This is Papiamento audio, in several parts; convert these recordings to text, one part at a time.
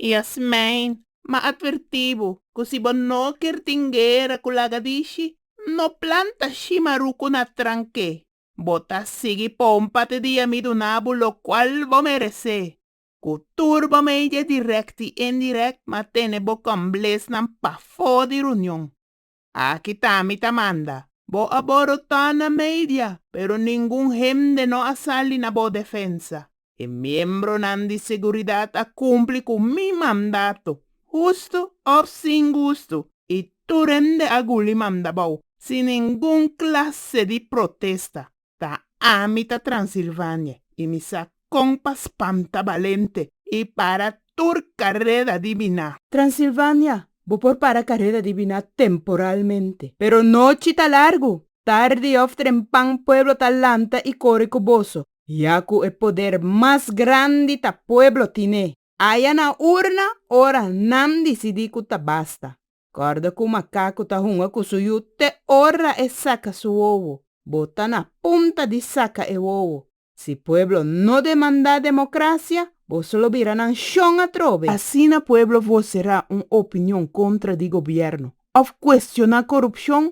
I a smein, m'a atvertí bo, ku si bo no ker tin guera ku lagadishi, no planta shima ruku na trank'é, bo ta sigui pon pati di ami duna bo lokual bo meresé, ku tur bo media dirèkt i indirèkt m'a tene bo kòmblesnan pafó di runion. Aki ta mi ta manda. Bo a borotá na media, pero ningun hende no a sali na bo defensa. E miembronan di seguridat a kumpli ku mi mandato, gustu òf sin gustu, i tur hende a guli manda bou, sin ningun klase di protesta. Ta ami ta Transilvania y mi sa con pa spanta balente y para tur careda di bina. Transilvania, bo por para careda di bina temporalmente, pero nochi ta largu, tardi of trempan pueblo ta lanta y core cu boso, ya cu e poder mas grandi ta pueblo tine. Aya na urna ora nan disidí ku ta basta. Kòrda ku makaku ta hunga ku su yu te ora e saka su wowo. Bo ta na punta di saka e wowo. Si pueblo no demandá demokrasia, bo so lo bira nan shon atrobe. Asina pueblo voserá un opinion kontra di gobièrnu òf kuestioná korupshon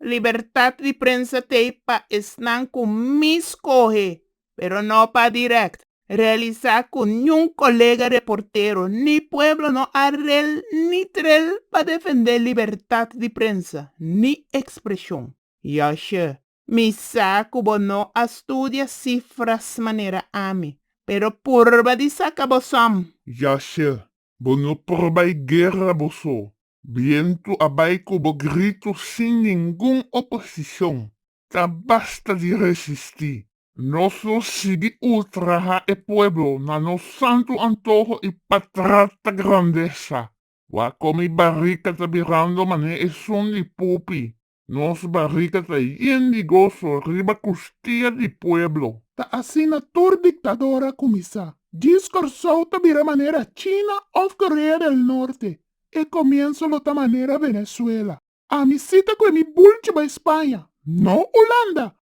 Libertat di prensa t'ei pa esnan ku mi skohe, pero no pa dirèkt realisá ku niun kolega reportero ni pueblo no a rel ni trel pa defendé libertat di prensa ni ekspreshon. Yòshë, mi sa ku bo no a studia sifras manera ami, pero purba di saka bo sòm. Yòshë, bo no purba e guerra bo so, Bientu a bai ku bo gritu sin ningun oposishon. Ta basta di resistí. Nos lo sigui ultraha e pueblo na nos santu antoho i pa trata grandesa. Wak komi barika ta birando mané esun di pupi. Nos barriga ta yen di goso riba kustia di pueblo. Ta asina tur diktador a kuminsá. Djis Kòrsou ta bira manera China òf Korea del Norte. E komienso lo ta manera Venezuela. Ami sita ku e mi bulchi bai Spaña, no Ulanda,